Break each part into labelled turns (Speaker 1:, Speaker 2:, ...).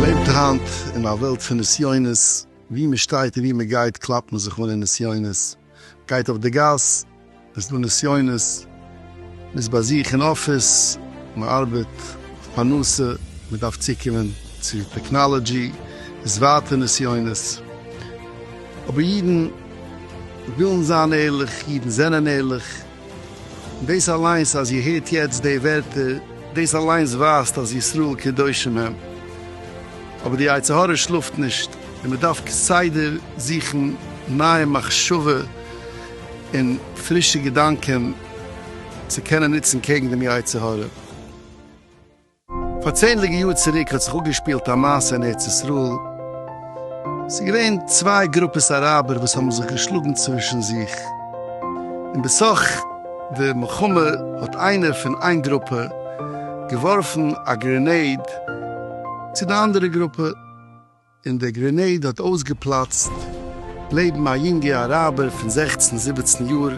Speaker 1: מ'לעבט היינט אין א וועלט פון נסיונות, ווי מ'שטייט און ווי מ'גייט קלאפט מען זיך אן אין נסיונות, מ'גייט אויף די גאס, עס איז דא נסיונות. מ'איז ביי זיך אין אפיס, מ'ארבעט אויף פרנסה, מ'דארף צוקומען צו טעקנאלעדזשי, איז ווייטער נסיונות. אבער אידן ווילן זיין ערליך, אידן זענען ערליך. און דאס אליינס אז איר הערט יעצט די ווערטער, דאס אליינס ווייזט אז ישראל קדושים הם. אבער די יצר הרע שלאפט נישט, און מ'דארף כסדר זוכן נייע מחשבה און פרישע געדאנקען צו קענען נוצן קעגן דעם יצר הרע. פאר צענדליגע יאר צוריק האט זיך אפגעשפילט א מעשה אין ארץ ישראל, עס איז געווען צוויי גרופעס אראבער וואס האבן זיך געשלאגן צווישן זיך, און בסך די מלחמה האט איינער פון איין גרופע געווארפן א גרענעיד צו די אנדערע גרופע, און דער גרענעיד האט אויסגעפלאצט לעבן א יונגע אראבער פון זעכצן זיבעצן יאר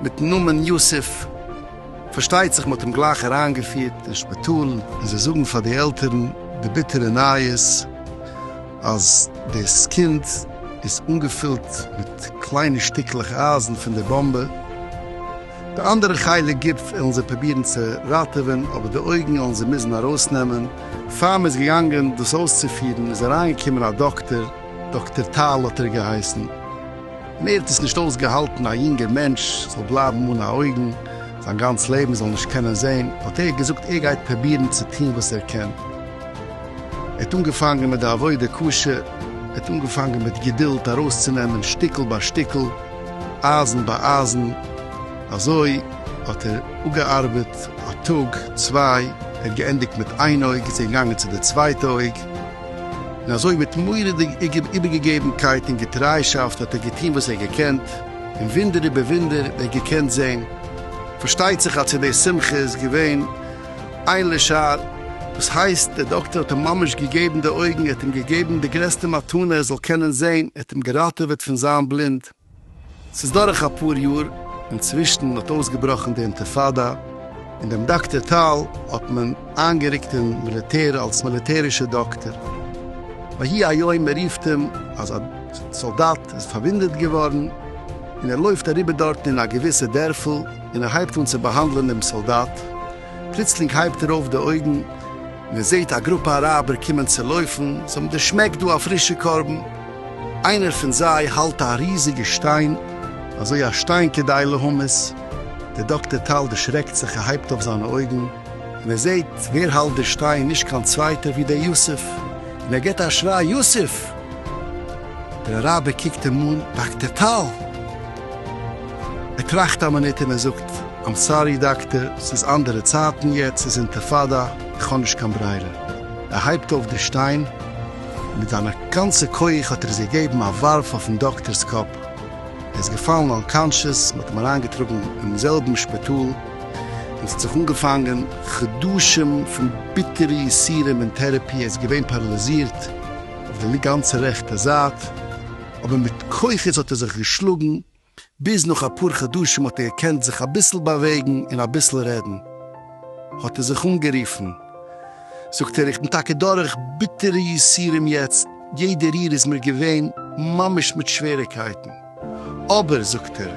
Speaker 1: מיטן נאמען יוסף, פארשטייט זיך מ'האט אים גלייך אריינגעפירט אין שפיטאל און זיי זאגן פאר די עלטערן די ביטערע נייעס אז דאס קינד איז אנגעפילט מיט קליינע שטיקלעך אייזן פון די באמבע. די אנדערע חלק גוף עלן זיי פרובירן צו ראטעווען, אבער די אויגן עלן זיי מוזן ארויסנעמען. פאר מען איז געגאנגען דאס אויסצופירן איז אריינגעקומען א דאקטער, דאקטער טל האט ער געהייסן, און ער האט עס נישט אויסגעהאלטן א יונגער מענטש זאל בלייבן אן א אויגן זיין גאנץ לעבן, זאל נישט קענען זען, האט ער געזאגט ער גייט פרובירן צו טון וואס ער קען. ער האט אנגעפאנגען מיט די עבודה קשה, ער האט אנגעפאנגען מיט געדולד ארויסצונעמען שטיקל ביי שטיקל, אײַזן בײַ אײַזן, אַזױ האָט ער אָפּגעאַרבעט אַ טאָג, צװײ, ער האָט געענדיקט מיט אײן אױג, איז ער געגאַנגען צו דער צװײטע אױג, און אַזױ מיט מוראדיק איבערגעגעבנקײט און געטרײַשאַפֿט האָט ער געטאָן װאָס ער האָט געקענט, און װוּנדער איבער װוּנדער האָט ער געקענט זען. פֿאַרשטײט זיך, אַז צו דער שׂימחה איז געװען איין לשער, וואס הייסט דער דאקטער האט אים ממש געגעבן די אויגן, ער האט אים געגעבן די גרעסטע מתנה ער זאל קענען זען, ער האט אים געראטעוועט פון זיין בלינד. ס'איז דורך אפאר יאר, אינצווישן האט אויסגעבראכן די אינטיפאדא, און דעם דאקטער טל האט מען איינגערוקט אין מיליטער אלס מיליטערישע דאקטער. ויהי היום מען רופט אים אז א סאלדאט איז פארוואונדעט געווארן, און ער לויפט אריבער דארטן אין א געוויסע דערפל, און ער הייבט אן צו באהאנדלען דעם סאלדאט, פלוצלינג הייבט ער אויף די אויגן און ער זעהט א גרופע אראבער קומען צו לויפן, זיי האבן דערשמעקט דא א פרישע קרבן, איינער פון זיי האלט א ריזיגע שטיין, אזוי א שטיין כדי להמית, דער דאקטער טל דערשרעקט זיך ער הייבט אויף זיינע אויגן און ער זעהט ווער האלט די שטיין נישט קיין צווייטער ווי דער יוסף, און ער גיבט א שריי יוסף! דער אראבער קוקט אים אן, דאקטער טל! ער טראכט א מינוט און ער זאגט, איים סארי דאקטער, ס'איז אנדערע צייטן יעצט, ס'איז אינטיפאדא, איך האב נישט קיין ברירה. ער הייבט אויף די שטיין, און מיט זיינע גאנצע כח האט ער עס געגעבן א ווארף אויפן דאקטער'ס קאפ, ער איז געפאלן אנקאנשעס, מ'האט אים אריינגעטראגן אינעם זעלבן שפיטאל, און ס'האט זיך אנגעפאנגען חדשים פון ביטערע יסורים און טערעפי, ער איז געווען פאראליזירט אויף די גאנצע רעכטע זייט. אבער מיט כוחות האט ער זיך געשלאגן, ביז נאך אפאר חדשים האט ער געקענט זיך אביסל באוועגן און אביסל רעדן, האט ער זיך אנגערופן, זאגט ער, איך בין טאקע דורך ביטערע יסורים יעצט, יעדע ריר איז מיר געווען ממש מיט שוועריקייטן, אבער, זאגט ער,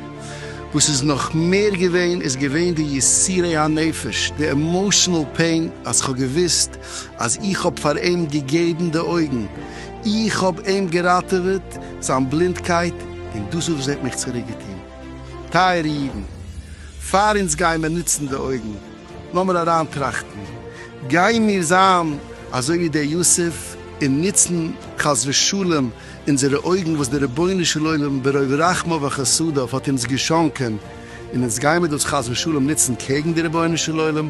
Speaker 1: וואס איז נאך מער געווען איז געווען די יסורי הנפש, די עמאושענעל פעין, אז כ'האב געוואוסט אז איך האב פאר אים געגעבן די אויגן, איך האב אים געראטעוועט זיין בלינדקייט און דאס וואס ער האט מיך צוריק געטון. טייערע אידן, פאר אונז גייען מיר נוצן די אויגן, לאמיר אריינטראכטן, גיימיר זיין אזוי ווי דער יוסף און נוצן חס ושלום אונזערע אויגן וואס דער רבונו של עולם ברוב רחמיו וחסדיו האט אונז געשאנקען און אונז גיימיר דאס חס ושלום נוצן קעגן דער רבונו של עולם?